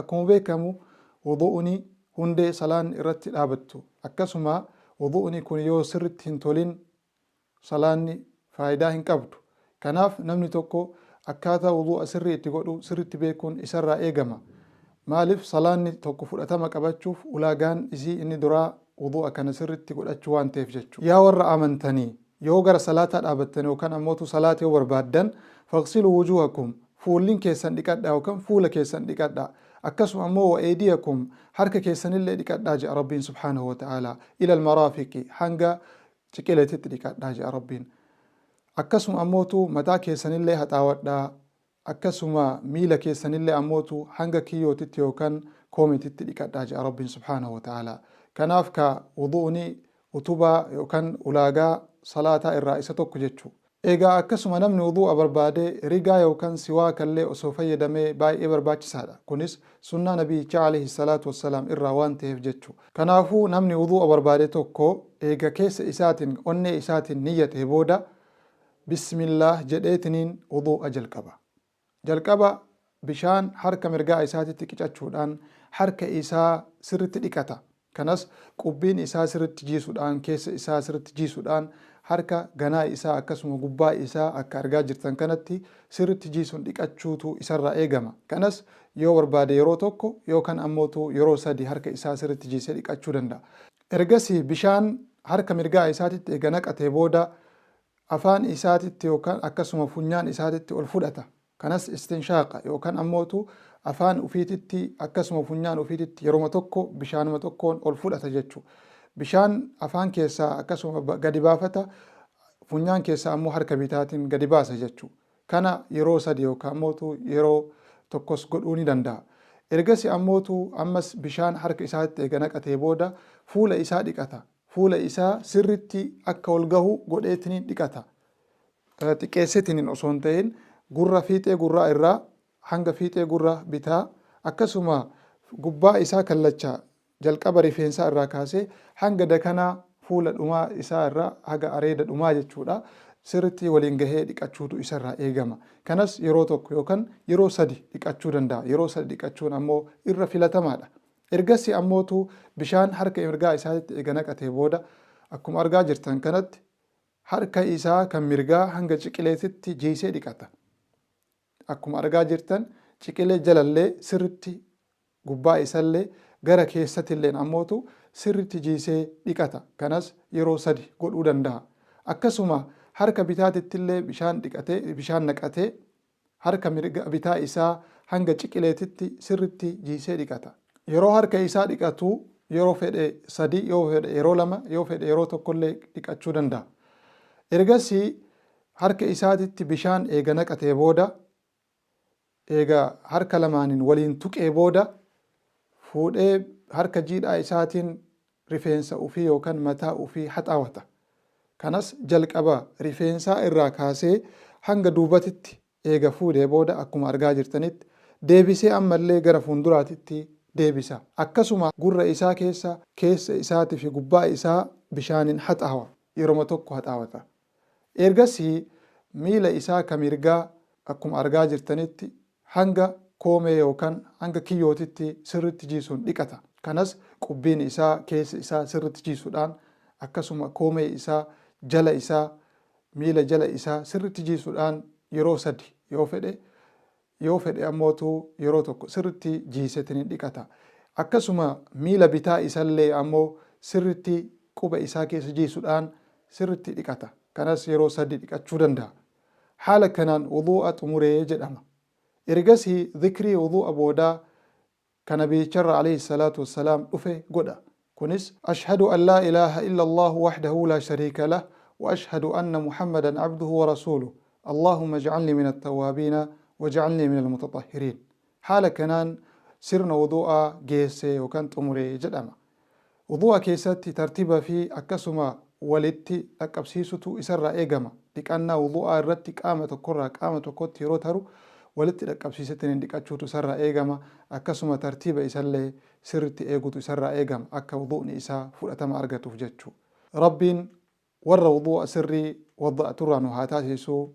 Akkuma beekamu wudu'uni hundee salaanni irratti dhaabattu. Akkasuma wudu'uni kun yoo sirritti hin tolin salaanni faayidaa hin qabdu. Kanaaf namni tokko akkaataa wudu'a sirrii itti godhu sirritti beekuun isarraa eegama. Maalif salaanni tokko fudhatama qabachuuf ulaagaan isii inni duraa wudu'a kana sirritti godhachuu waan ta'eef jechu. Yaa warra amantanii! Yoo gara salaataa dhaabattan yookan ammoo utuu salaata yoo barbaaddan, faghsiluu wujuuhakum, fuullin keessan dhiqadhaa yookan fuula keessan dhiqadhaa. Akkasuma ammoo wa eydiyakum, harka keessanillee dhiqadhaa je'a Rabbiin subhaanahu wa ta'aalaa. Ilal maraafiqi, hanga ciqileetitti dhiqadhaa je'a Rabbiin. Akkasuma ammoo utuu mataa keessanillee haxaawadhaa. akkasuma miila keessanille ammootu hanga kiyyootitti yookan koometitti dhiqadhaa je'a Rabbiin subhaanahu wa ta'aalaa. Kanaaf kaa wudu'uni utubaa yookan ulaagaa salaataa irraa isa tokko jechu. Eegaa akkasuma namni wudu'a barbaade rigaa yookan siwaakallee osoo fayyadamee baay'ee barbaachisaadha. Kunis sunnaa nabiyyichaa aleyhi salaatu wassalaam irraa waan taheef jechu. Kanaafuu namni wudu'a barbaade tokko eega keessa isaatin, onnee isaatin niyyatee booda Bismillaah jedheetiniin wuduu'a jalqaba. Jalqaba bishaan harka mirgaa isaatitti qicachuudhaan harka isaa sirritti dhiqata. Kanas qubbiin isaa sirritti jiisudhaan, keessa isaa sirritti jiisudhaan, harka ganaa isaa akkasuma gubbaa isaa akka argaa jirtan kanatti sirritti jiisun dhiqachuutu isarraa eegama. Kanas yoo barbaade yeroo tokko yookan ammootu yeroo sadi harka isaa sirritti jiisee dhiqachuu danda'a. Ergasii bishaan harka mirgaa isaatitti eega naqatee booda Afaan isaatitti yookaan akkasuma funyaan isaatitti ol fudhata. Kanas istinshaaqa yookaan ammootu afaan ufiititti akkasuma funyaan ufiititti yeroma tokko bishaanuma tokkoon ol fudhata jechu. Bishaan afaan keessaa akkasuma gadi baafata, funyaan keessaa ammoo harka bitaatiin gadi baasa jechu. Kana yeroo sadi yookaan ammootu yeroo tokkos godhuu ni danda'a. Ergasi ammootu ammas bishaan harka isaatitti eega naqatee booda fuula isaa dhiqata. fuula isaa sirritti akka ol gahu godheetiniin dhiqata. Xiqqeesseetiniin osoo hin ta'in gurra fiixee gurraa irraa hanga fiixee gurra bitaa akkasuma gubbaa isaa kallacha jalqaba rifeensaa irraa kaasee hanga dakanaa fuula dhumaa isaa irraa haga areeda dhumaa jechuudha sirritti waliin gahee dhiqachuutu isa irraa eegama. Kanas yeroo tokko yookan yeroo sadi dhiqachuu danda'a. Yeroo sadi dhiqachuun ammoo irra filatamaadha. Ergasii ammoo utuu bishaan harka mirgaa isaatitti eega naqatee booda, akkuma argaa jirtan kanatti harka isaa kan mirgaa hanga ciqileetitti jiisee dhiqata. Akkuma argaa jirtan ciqilee jalallee sirritti gubbaa isallee gara keessatilleen ammoo utuu sirritti jiisee dhiqata. Kanas yeroo sadi godhuu danda'a. Akkasuma harka bitaatittillee bishaan dhiqatee, bishaan naqatee harka mirga bitaa isaa hanga ciqileetitti sirritti jiisee dhiqata. Yeroo harka isaa dhiqatu yeroo fedhe sadii, yoo fedhe yeroo lama, yoo fedhe yeroo tokko illee dhiqachuu danda'a. Ergasii harka isaatitti bishaan eega naqatee booda, eega harka lamaaniin waliin tuqee booda, fuudhee harka jiidhaa isaatiin rifeensa ufii yookan mataa ufii haxaawata. Kanas jalqaba rifeensaa irraa kaasee hanga duubatitti eega fuudhee booda akkuma argaa jirtanitti deebisee ammallee gara fuunduraatitti deebisa. Akkasuma gurra isaa keessa, keessa isaati fi gubbaa isaa bishaanin haxaawa. Yeroma tokko haxaawata. Ergasii miila isaa ka mirgaa akkuma argaa jirtanitti Hanga koomee yookan hanga kiyyootitti sirritti jiisuun dhiqata. Kanas qubbiin isaa, keessi isaa sirritti jiisudhaan akkasuma koomee isaa, jala isaa, miila jala isaa sirritti jiisudhaan yeroo sadi yoo fedhe yoo fedhe ammootu yeroo tokko sirritti jiisetini dhiqata. Akkasuma miila bitaa isallee ammoo sirritti quba isaa keessa jiisudhaan sirritti dhiqata. Kanas yeroo sadi dhiqachuu danda'a. Haala kanaan wuduu'a xumure jedhama. Ergasii zikrii wuduu'a boodaa ka Nabiyicharra aleyhi salaatu wassalaam dhufe godha. Kunis, Ashhadu an laa ilaaha illa Allaahu wahdahu laa shariika lah wa ashhadu anna Muhammadan abduhu wa rasuuluh. Allaahumma ij'alnii min attawwaabiina waj'alnii minal mutaxahhiriin. Haala kanaan sirna wudu'aa geesse yookan xumure jedhama. Wudu'a keessatti tartiba fi akkasuma walitti dhaqqabsiisutu isarraa eegama. Dhiqannaa wudu'aa irratti qaama tokkorraa qaama tokkotti yeroo taru walitti dhaqqabsiisetiniin dhiqachuutu isarraa eegama. Akkasuma tartiba isallee sirritti eegutu isarraa eegama akka wudu'ni isaa fudhatama argatuuf jechuu. Rabbiin warra wudu'a sirrii wadda'aturraa nu haa taasiisu.